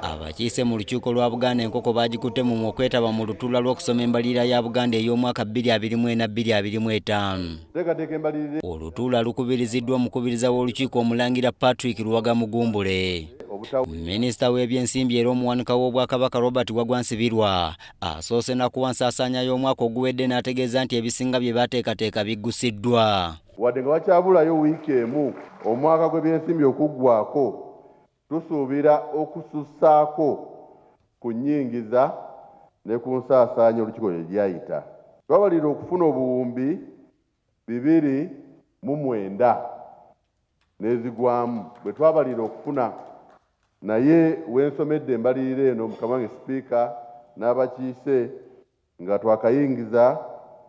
abakiise mu lukiiko lwa buganda enkoko baagikutte mu okwetaba mu lutuula lw'okusoma embalirira ya buganda ey'omwaka 22425 olutuula lukubiriziddwa omukubiriza w'olukiiko omulangira patrick luwaga mugumbule minisita w'ebyensimbi era omuwanika w'obwakabaka robert wagwa nsibirwa asoose nakuwa nsaasaanya y'omwaka oguwedde n'ategeeza nti ebisinga bye baateekateeka biggusiddwa wadde nga wakyabulayo wiiki emu omwaka gw'ebyensimbi okuggwako Tusuubira okusussaako ku nnyingiza ne ku nsaasaanya olukiiko lye lyayita. Twabalirira okufuna obuwumbi bibiri mu mwenda n'ezigwamu bwe twabalirira okufuna naye we nsomedde embalirira eno mukama wange Sipiika n'abakiise Nga twakayingiza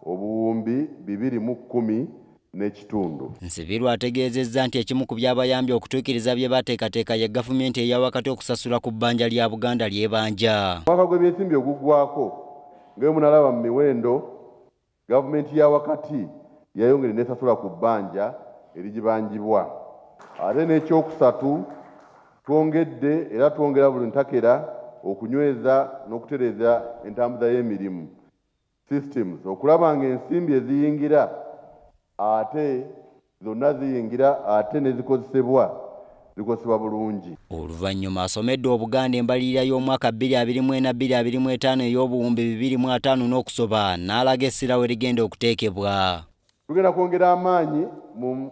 obuwumbi bibiri mu kkumi n'ekitundu. Nsibirwa ategeezezza nti ekimu ku byabayambye okutuukiriza bye baateekateeka ye gavumenti eya wakati okusasula ku bbanja lya Buganda ly'ebanja. Omwaka gw'ebyensimbi oguggwaako nga bwe munalaba mu miwendo, gavumenti ya wakati yayongedde n'esasula ku bbanja erigibanjibwa ate n'ekyokusatu Twongedde era twongera buli ntakera okunyweza n'okutereeza entambuza y'emirimu, systems, okulaba ng'ensimbi eziyingira ate zonna ziyingira ate ne zikozesebwa zikozesebwa bulungi. Oluvannyuma asomedde Obuganda embalirira y'omwaka bbiri abiri mu ena bbiri abiri mu etaano ey'obuwumbi bibiri mu ataano n'okusoba n'alaga essira we ligenda okuteekebwa. Tugenda kwongera amaanyi mu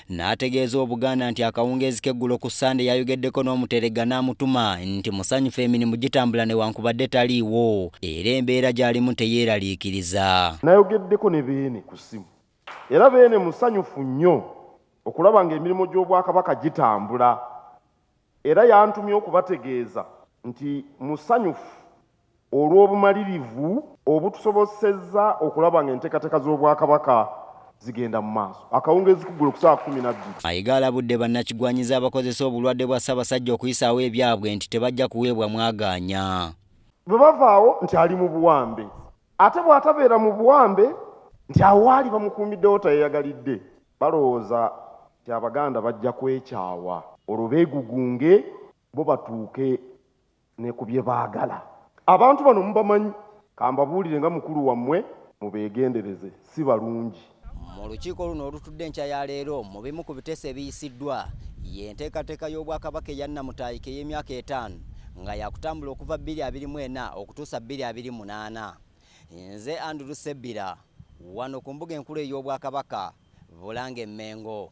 n'ategeeza Obuganda nti akawungeezi k'eggulo ku Ssande yayogeddeko n'Omuteregga n'amutuma nti musanyufu emirimu gitambula newankubadde taliiwo era embeera gy'alimu teyeeraliikiriza. Nayogeddeko ne Beene ku ssimu era Beene musanyufu nnyo okulaba ng'emirimu gy'Obwakabaka gitambula Era yantumye okubategeeza nti musanyufu olw'obumalirivu obutusobosezza okulaba nga enteekateeka z'Obwakabaka zigenda mu maaso akawungeezi kuggulo ku ssaawa kkumi na bbiri. Mayiga alabudde bannakigwanyizi abakozesa obulwadde bwa Ssabasajja okuyisaawo ebyabwe nti tebajja kuweebwa mwagaanya. Bwe bavaawo nti ali mu buwambe ate bw'atabeera mu buwambe nti awo waali bamukuumiddewo tayeyagalidde. Balowooza nti Abaganda bajja kwekyawa olwo beegugunge bo batuuke ne ku bye baagala. Abantu bano mubamanyi? Ka mbabuulire nga mukulu wammwe mubeegendereze si balungi. Mu lukiiko luno olutudde enkya ya leero mu bimu ku biteeso ebiyisiddwa ye nteekateeka y'Obwakabaka eya Nnamutaayika ey'emyaka etaano nga yaakutambula okuva bbiri abiri mu ena okutuusa bbiri abiri munaana. Nze Andrew Sebbira wano ku mbuga enkulu ey'Obwakabaka Bulange Mmengo.